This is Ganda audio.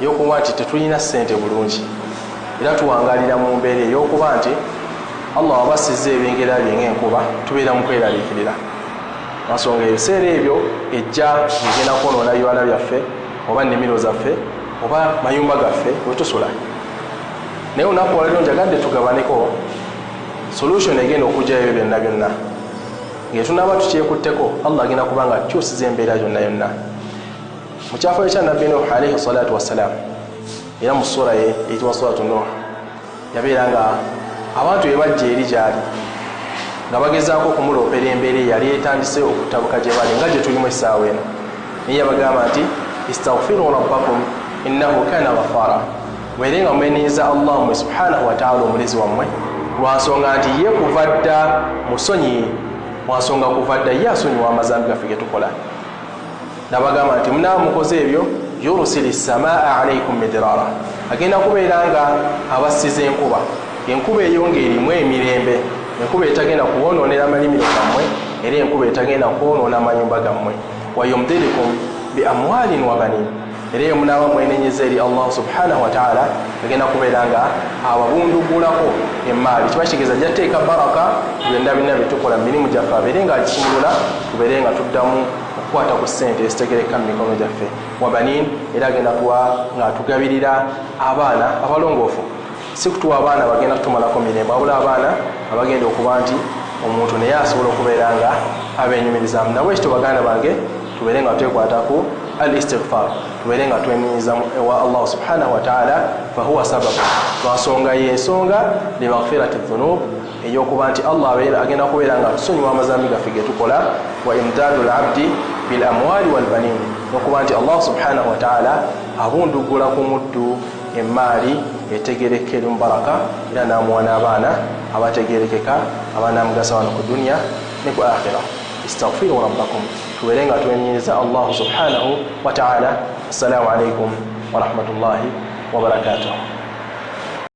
eyokuba nti tetulina sente bulungi era tuwangalira mu mbeera eyokuba nti allah waba asiza ebengera bye ngaenkuba tubeera mu kweraliikirira ensonga ebiseera ebyo ejja egenda kwonoona biwala byaffe oba nimiro zaffe oba mayumba gaffe wetusula naye olunaku waliro njagadde tugabaneko solution egenda okujja ebyo byonna byonna ngaetunaaba tukyekutteko allah agenda kubanga akyusiza embeera yonna yonna mu kyafayo kya nabbi nuh alaihi salatu wassalam era mu sura ye eyitibwa suratu nuh yabeera nga abantu bebajja eri gyali nga bagezaako okumuloopera embeera eyali etandise okutabuka gye bali nga gye tulimu essaawa eno naye yabagamba nti istagfiru rabbakum innahu kana ghafaara mwere nga mweneeza allah mwe subhanahu wataala omulezi wammwe lwansonga nti ye kuva dda musonyi lwansonga kuva dda ye asonyiwa amazambi gaffe ge tukola nabagamba nti munaba mukoze ebyo yursil samaa alaikum midirara agenda kubeera nga abassiza enkuba enkuba eyo ngaerimu emirembe enkuba etagenda kubonoonera malimiro gammwe era enkuba etagenda kwonoona manyumba gammwe wayumdirikum bi amwalin wabanin era eyo munaba mwenenyeza eri allah subhanahu wataala agenda kubeera nga ababundugulako emaali kiba kitegeeza ajja teeka baraka byonna byonna byetukola mu mirimu gyaffe abeere nga akisumulula tubeere nga tuddamu okukwata ku ssente ezitegereka mu mikono gyaffe wabanin era agenda kuba ng'atugabirira abaana abalongoofu si kutuwa abaana bagenda kutumalako mirembo abula abaana abagenda okuba nti omuntu naye asobola okubeera nga abenyumirizamu nabwe ekito baganda bange tubeere nga twekwataku al istigfar tubeere nga twenyumizamu ewa allah subhanahu wataala fahuwa sababu lwansonga yensonga limagfirati dhunub ey'okuba nti Allah abeera agenda kubeera nga atusonyiwa amazambi gaffe ge tukola wa imdaadu labdi bil amwaali wal baniin n'okuba nti Allah subhanahu wa taala abunduggula ku muddu emmaali etegerekeka eri mubaraka era n'amuwa n'abaana abategerekeka abanaamugasa wano ku duniya ne ku akhira istaghfiru rabbakum tubeere nga twenyiriza allahu subhanahu wa taala assalamu alaikum warahmatullahi wabarakatuhu